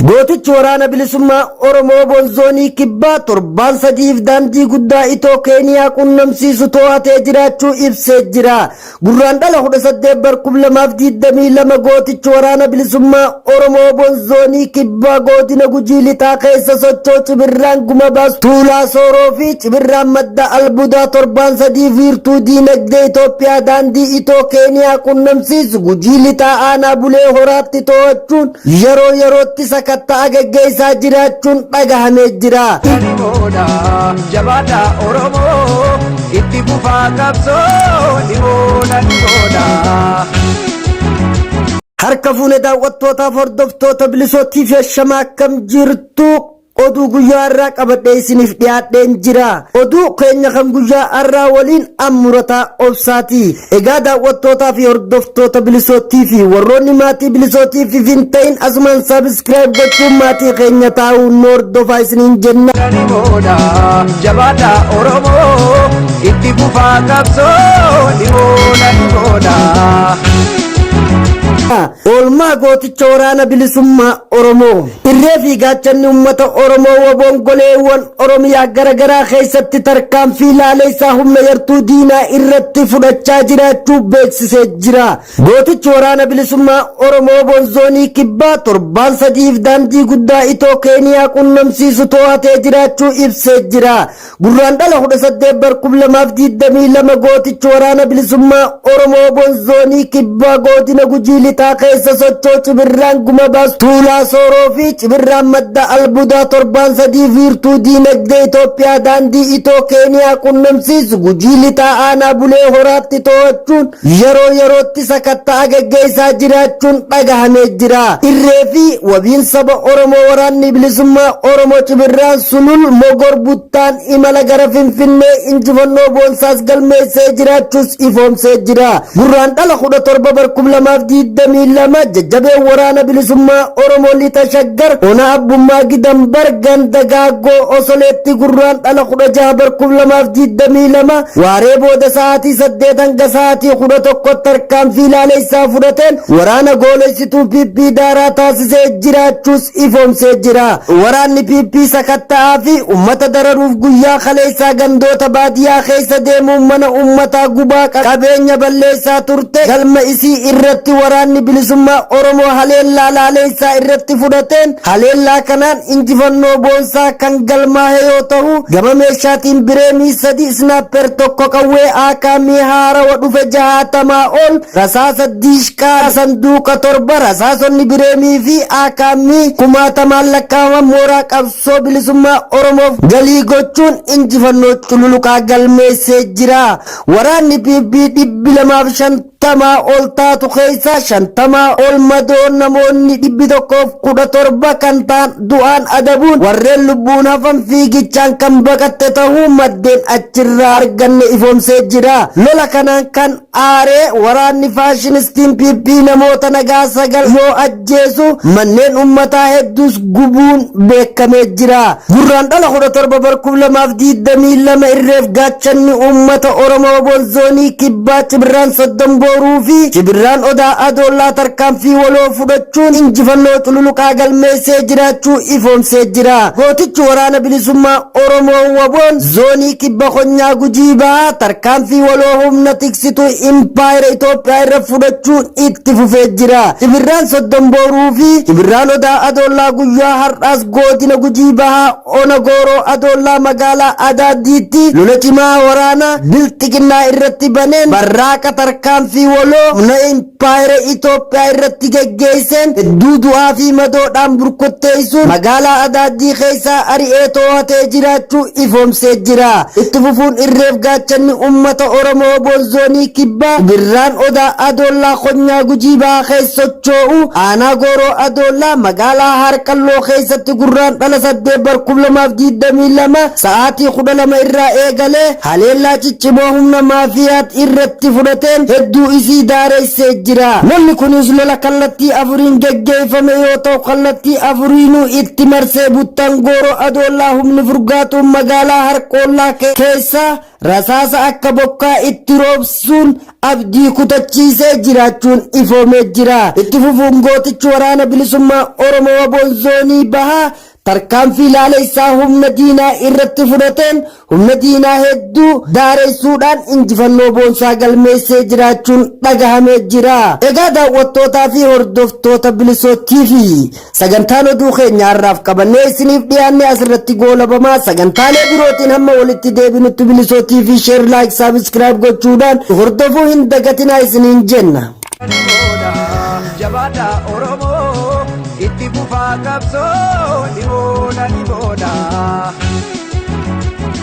Gootichi Waraana Bilisummaa Oromoo Wbo'n Zoonii Kibbaa torbaan sadi'iif daandii guddaa Itoo Keeniyaa quunnamsiisu too'atee jiraachuu ibsee jira. Gurraandhala 18 bar 2022 gootichi Waraana Bilisummaa Oromoo Wbo'n Zoonii Kibbaa Goodina Gujii Lixaa keessa sochoo Cibirraan Gumabaas Tuulaa Sooroo fi Cibirraan Madda Albudaa torbaan sadiif wiirtuu diinagdee Itoophiyaa daandii Itoo Keeniyaa quunnamsiisu Gujii Lixaa Aanaa Bulee Horaatti too'achuun yeroo yerootti sakatta'a gaggeessaa jiraachuun dhagahamee jira. Oromoodha jabaadha Oromoo itti fufaa qabsoo dhimoodha dhimoodha. Harka fuune daawwattootaaf hordoftoota bilisoo TV shamaa akkam jirtu Oduu guyyaa har'aa qabadhee isiniif dhiyaadheen jira. Oduu keenya kan guyyaa har'aa waliin ammurataa obsaati. Egaa daawwattootaa fi hordoftoota bilisootii fi warroonni maatii bilisootii fi hin ta'in asumaan saabiskiraayib gochuun maatii keenya taa'uu nu hordofaa isiniin jenna. Oromoodha jabaadha Oromoo itti fufaa qabsoo dhihoona dhihoona. Oolmaa gooticha waraana bilisummaa Oromoo. Irree fi gaachanni ummata Oromoo wboon goleewwan Oromiyaa gara garaa keessatti tarkaanfii laaleessaa humna yartuu diinaa irratti fudhachaa jiraachuu beeksisee jira. Gootichi Waraana Bilisummaa Oromoo wboon Zoonii Kibbaa torbaan sadi'iif daandii guddaa Itoo Keeniyaa quunnamsiisu toohatee jiraachuu ibsee jira. Gurraandhala 18 bar 2022 gootichi Waraana Bilisummaa Oromoo Oboon Zoonii Kibbaa Goodina Gujii Lixaa keessa sochoo Cibirraan Gumabaas Tuulaa Sooroo fi Cibirraan Madda Albudaa torbaan sadiif wiirtuu diinagdee Itoophiyaa daandii Itoo Keeniyaa qunnamsiisu Gujii Lixaa Aanaa Bulee Horaatti too'achuun yeroo yerootti sakatta'a gaggeessaa jiraachuun dhagahamee jira. Irree fi wabiin saba Oromoo Waraanni Bilisummaa Oromoo Cibirraan Sulul Mogor Buttaan imala gara Finfinnee injifannoo boonsaas galmeessee jiraachuus ifoomsee jira. Gurraandhala 17 bar 2022 jajjabeen Waraana Bilisummaa Oromoo Lixa Shaggar Ona Abbummaa Gidanbar Ganda Gaaggoo Osoleetti Gurraandhala 16 bar 2022 Waaree booda sa'aatii 8:00 hanga sa'aatii 11:00tti tarkaanfii laaleessaa fudhateen waraana goolessituu PP daaraa taasisee jiraachuus ifoomsee jira. Waraanni PP sakatta'aa fi ummata dararuuf guyyaa kaleessaa gandoota baadiyaa keessa deemuun mana ummataa gubaa qabeenya balleessaa turte galma isii irratti Waraanni Bilisummaa Oromoo haleellaa laaleessaa irratti fudhateen haleellaa kanaan injifannoo boonsaa kan galmaahe yoo tahu, gama meeshaatiin bireenii sadi, snaapper tokko, qawwee Aakaamii haarawa dhufe jahaatamaa ol, rasaasa Diishqaa sanduuqa torba, rasaasonni bireenii fi Aakaamii kumaatamaan lakkaa'aman mooraa qabsoo bilisummaa Oromoof galii gochuun injifannoo cululuqaa galmeessee jira. Waraanni PP 250 tamaa ol taatu keessaa shantamaa ol madoon namoonni dhibbi tokkoof kudha torba kan ta'an du'aan adabuun warreen lubbuun hafan fiigichaan kan baqatte tahuu maddeen achirraa arganne ifoomsee jira. Lola kanaan kan aaree waraanni faashinistiin PP namoota nagaa sagal yoo ajjeesu, manneen ummataa hedduus gubuun beekamee jira. Gurraandhala 17 bar 2022 irreef gaachanni uummata Oromoo wboon zoonii kibbaa Cibirraan Soddom Booruu fi Cibirraan Odaa Adoollaa tarkaanfii waloo fudhachuun injifannoo cululuqaa galmeessee jiraachuu ifoomsee jira. Gootichi Waraana Bilisummaa Oromoo wboon zoonii kibba konyaa Gujii Bahaa tarkaanfii waloo humna tiksituu impaayera Itoophiyaa irra fudhachuun itti fufee jira. Cibirraan Soddom Booruu fi Cibirraan Odaa Adoollaa guyyaa har'aas Goodina Gujii Bahaa Ona Gooroo Adoollaa Magaalaa Adaaddiitti lola cimaa waraana Bilxiginnaa irratti baneen barraaqa tarkaanfii waloo humna Impaayera Itoophiyaa irratti geggeesseen hedduu du'aa fi madoodhaan burkutteessuun magaalaa Adaaddii keessaa ari'ee too'atee jiraachuu ifoomsee jira. Itti fufuun irreef gaachanni uummata Oromoo Wbo Zoonii Kibbaa Cibirraan Odaa Adoollaa Konyaa Gujii Bahaa keessa sochoo'u Aanaa Gooroo Adoollaa Magaalaa Haarqalloo keessatti Gurraandhala 8 bar 2022 sa'aatii 12 irraa eegalee haleellaa ciccimoo humna maafiyaat irratti fudhateen hedduu isii daareessee jira. Lolli kunis lola kallattii afuriin geggeeffame yoo ta'u kallattii afuriinuu itti marsee buttaan Gooroo Adoollaa humni furgaatuun magaalaa Harqoollaa keessaa rasaasa akka bokkaa itti roobsuun abdii kutachiisee jiraachuun ifoomee jira. Itti fufuun gootichi waraana bilisummaa Oromoo waboon zoonii bahaa tarkaanfii laaleessaa humna diinaa irratti fudhateen humna diinaa hedduu daareessuudhaan injifannoo boonsaa galmeessee jiraachuun dhagahamee jira. Egaa daawwattootaa fi hordoftoota Bilisoo TV. Sagantaan oduu keenya har'aaf qabannee isiniif dhiyaanne asirratti goolabamaa sagantaalee birootiin hamma walitti deebinutti bilisoo TV share like subscribe gochuudhaan nu hordofuu hin dagatinaa isiniin jenna. Jabaadha Oromoo itti fufaa qabsoo dhibooda dhibooda.